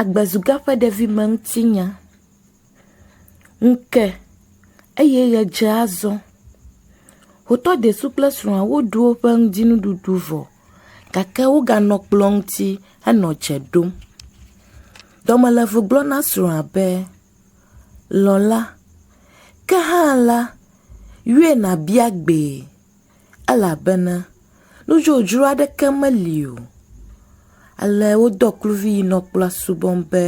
Agbezuga ƒe ɖevime ŋutinya. Ŋu ke eye ʋe dze azɔ. Wotɔ desu kple srɔ̃a woɖu woƒe ŋudzinuɖuɖu vɔ gake woganɔ kplɔ ŋuti henɔ dze ɖom. Dɔmeleʋu gblɔ na srɔ̃a be, Lɔ̃la, ke hã la, yɔe nàbia gbee. elabena nudzodzro aɖeke meli o. Ale wodɔ kluvi yi nɔ kplɔ̃a subɔm be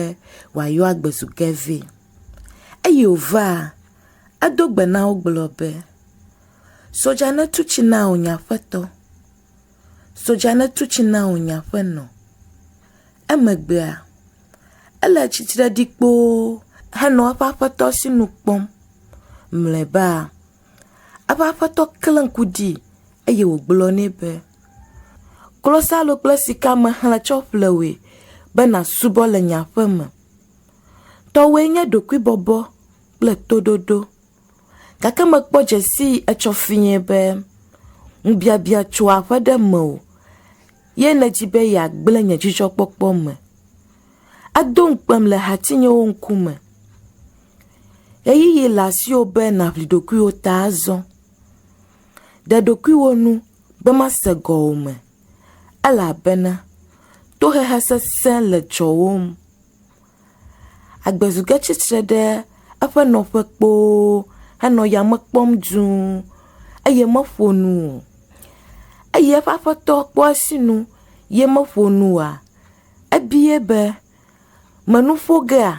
wòayɔ agbe zu ge vɛ. Eyi wòva, edo gbe na wo gblɔ be, Sodza netu tsi na wò nye aƒetɔ. Sodza netu tsi na wò nye aƒenɔ. Emegbea, ele tsitre ɖi kpoo henɔ eƒe aƒetɔ si nu kpɔm. Mlɔeba, Eƒe aƒetɔ klẽ ŋku dii eye wògblɔ nɛ be, Klosalo kple sika mehlẽ tsɔ ƒle wòe be nàsubɔ le nye aƒe me. Tɔwòe nye ɖokuibɔbɔ kple toɖoɖo. Gake mekpɔ dze sii etsɔ fiẽ be ŋubiabia tso aƒe ɖe mewò ye nèdi be yeagblẽ nye dzidzɔkpɔkpɔ me. Edo ŋukpem le hatinyewo ŋkume. Ɣeyiɣi le asiwò be nàʋli ɖokuiwò ta azɔ. Ɖe ɖokuiwò nu be mase gɔwòme elabena tohehe sesẽ le dzɔwòm. Agbezu ge tsitre ɖe eƒe nɔƒe kpoo henɔ yame kpɔm dũu eye meƒo nu o. Eye eƒe aƒetɔ kpɔ esinu ye meƒo nu oa, Ebie be, Mènu ƒo gea?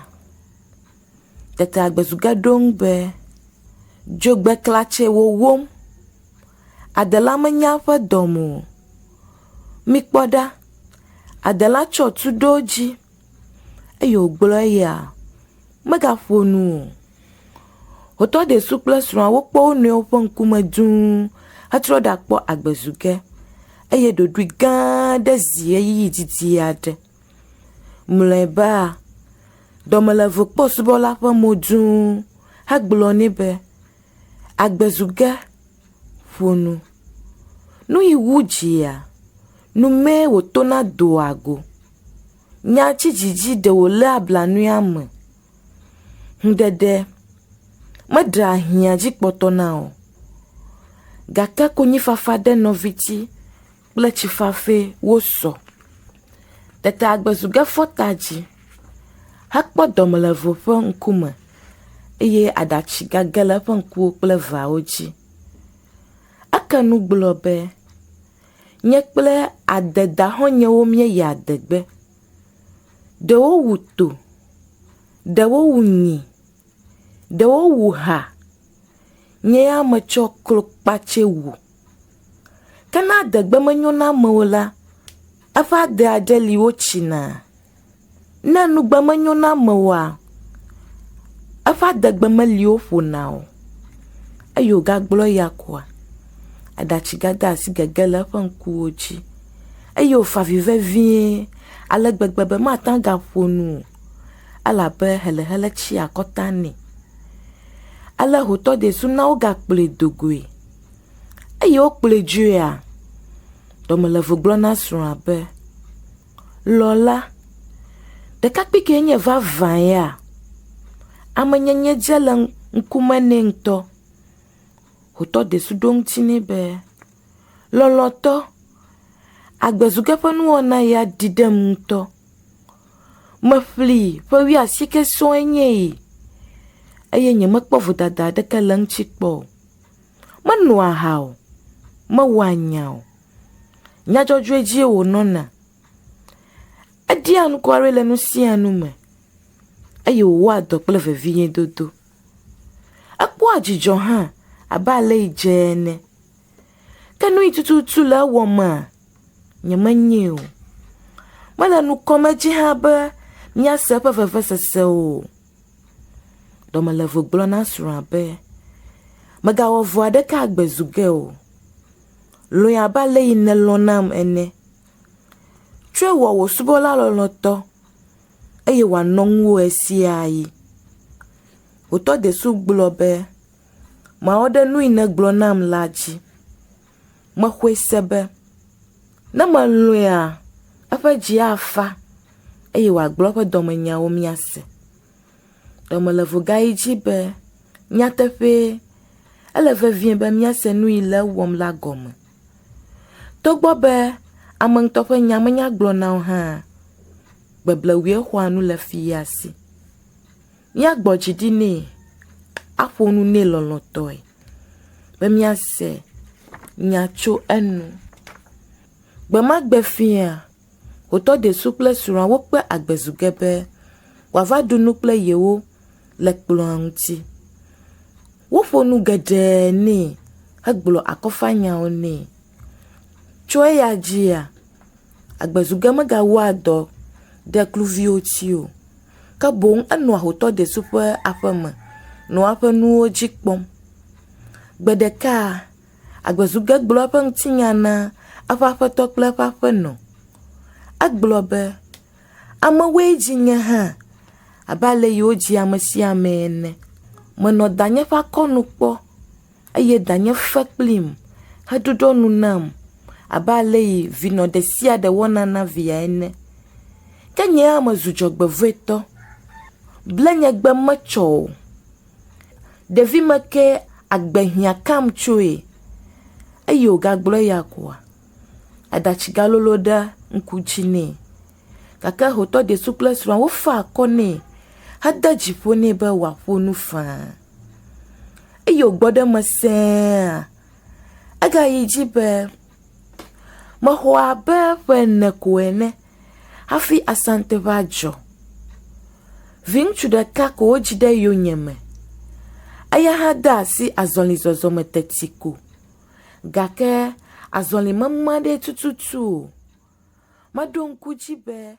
Tete agbezuge ɖo eŋu be, Dzogbeklatse wòwom. Adela menya eƒe dɔme o. Mikpɔ ɖa! Adela tsɔ tu ɖo edzi eye wògblɔ eya megaƒo nu o. Wotɔ Ɖesu kple srɔ̃a wokpɔ wo nɔewo ƒe ŋkume dũu hetrɔ ɖakpɔ agbezuge. eye ɖoɖoe gã aɖe zi ʋeyiʋi didi aɖe. Mlɔeba, dɔmelevokpɔsubɔla ƒe mo dzũ hegblɔ nɛ be, Agbe zu ge, ƒo nu. Nu yi wu dzia, nu mee wòtona doa go. Nya tsi dzi dzi ɖe wòléa blanui ame. Ŋɖeɖe meɖea hiã dzi kpɔtɔ na o, gake konyifafa ɖe nɔvitsi kple tsi fafɛ wosɔ. Tete agbe zu ge fɔta dzi hekpɔ dɔme le eve ƒe ŋkume eye aɖatsi gage le eƒe ŋkuwo kple eveawo dzi. Eke nu gblɔ be, Nye kple adedaxɔnyewo míeyi adegbe. ɖewo wu to, ɖewo wu nyi, ɖewo wu ha. Nye ya metsɔ klokpatse wu. Ke ne adegbe menyo na ame o la, eƒe ade aɖe li wotsina. Ne nugbe menyo na ame oa, eƒe adegbe meli woƒona o. Eye wògagblɔ eya koa. Aɖatsigadaasi gege le eƒe ŋkuwo dzi eye wòfa avi vevie ale gbegbe be mate ŋu agaƒo nu o elabe helehele tsi akɔta nɛ. Ale hotɔdeasu na wogakplɔe do goe. Eyi wokplɔe dzoea, dɔmelevo gblɔ na srɔ̃a be, Lɔla, ɖekakpui kee nye vavã ya, amenyenye dze le ŋkume nɛ ŋutɔ. wòtɔ desu ɖo ŋuti nɛ be, Lɔlɔ̃tɔ, agbezuge ƒe nuwɔna ya ɖi ɖem ŋutɔ. Meƒlee ƒe wuiasieke sɔŋe nye yi eye nyemekpɔ vodada aɖeke le eŋuti kpɔ o. Menoa aha o, mewɔa nya o, nya dzɔdzɔe dzie wònɔna. Eɖia ŋku aɖe le nu sia nu me eye wòwɔa dɔ kple veviedodo. Ekpɔa dzidzɔ hã abe alesi dze ene. Ke nu si tututu le ewɔmea, nyemenyɛ o. Mele nu kɔm edzi hã be míase eƒe vevesese o. Dɔmelevo gblɔ na srɔ̃a be, Mègawɔ vɔ̃ aɖeke agbe zu ge o. Lɔ̃e abe alesi nèlɔ̃ nam ene. Tsɔe wɔ wò subɔla lɔlɔ̃tɔ eye wòanɔ ŋuwò ɣesiaɣi. Wòtɔ desu gblɔ be, Mawɔ ɖe nu yi nègblɔ nam la dzi. Mexɔe se be, ne melɔ̃ea, eƒe dzi afa, eye wòagblɔ eƒe dɔmenyawo míase. Ɖe mele vugaɣi dzi be, nyateƒee, ele vevie be míase nu yi le ewɔm la gɔme. Togbɔ be ame ŋutɔ ƒe nya menya gblɔ na wo hãa, gbebleŋue xɔa nu le fia si. Míagbɔ dzi ɖi nɛ, aƒo nu nɛ lɔlɔ̃tɔe be míase nya tso enu. Gbe ma gbe fiaa, Wotɔ desu kple srɔ̃a wokpe agbe zu ge be wòava ɖu nu kple yewo le kplɔ̃a ŋuti. Woƒo nu geɖe nɛ hegblɔ akɔfanyawo nɛ. Tso eya dzia, agbezuge megawɔa dɔ ɖe kluviwo tsi o, ke boŋ enɔa hotɔ desu ƒe aƒeme nɔa eƒe nuwo dzi kpɔm. Gbe ɖeka, Agbezuge gblɔ eƒe ŋutinya na eƒe aƒetɔ kple eƒe aƒenɔ. Egblɔ be, Amewoe dzi nye hã abe ale yi wodzia ame sia ame ene. Menɔ danye ƒe akɔnu kpɔ eye danye fe kplim heɖuɖɔ nu nam abe ale yi vinɔ ɖe sia ɖe wɔna na via ene. Ke nye hã mezu dzɔgbevɔ̃etɔ. Blenyegbe metsɔ o. Ɖevi me ke agbe hiã kam tsoe. Eyi wògagblɔ eya koa, aɖatsi galolo ɖe ŋku dzi nɛ. Gake hotɔ Desu kple srɔ̃a wofa akɔ nɛ hede dzi ƒo nɛ be wòaƒo nu faa. Eyi wògbɔ ɖe eme sẽea, egayi dzi be. Mexɔ abe ƒe ene ko ene hafi Asante ŋe adzɔ. Viŋutsu ɖeka ko wodzi ɖe yonyeme. Eya hã de asi azɔlizɔzɔ me teti ko gake azɔli mema ɖee tututu o. Meɖo ŋku edzi be…